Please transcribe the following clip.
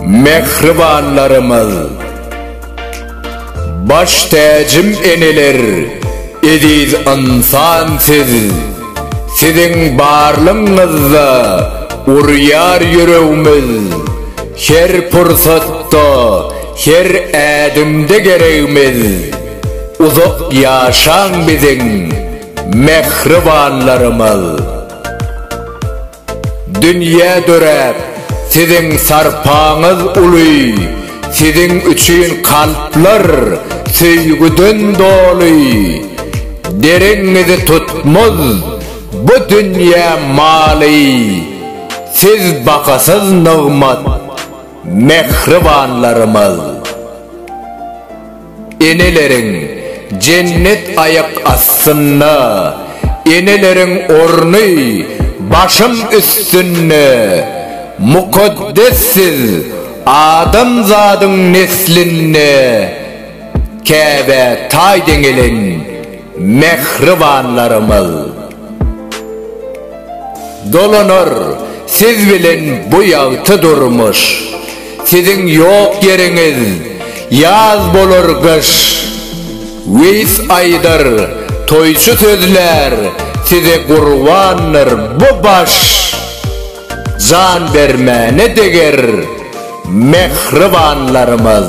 Mähribanlarymyz! Baş täjim eneler, eziz ynsan siz! Siziň barlygyňyzda urýar ýüregimiz, Her pursatda, her ädimde geregimiz. Uzak ýaşaň biziň mähribanlarymyz. Dünýä döräp siziň sarpaňyz uly siziň üçin kalplar söýgüden doly dereňňizi tutmaz bu dünýä maly siz bahasyz nygmat mähribanlarymyz. Eneleriň jennet aýak astynda Eneleriň orny başym üstünde Mukaddes siz adamzadyň neslinde Käbä taý deňelen Mähribanlarymyz! Dolanar siz bilen bu ýagty durmuş, Siziň ýok ýeriňiz ýaz bolar gyş. Weýis aýdar, toýçy sözlär, Size gurbandyr bu baş. Jan bermäne deger, mähribanlarymyz!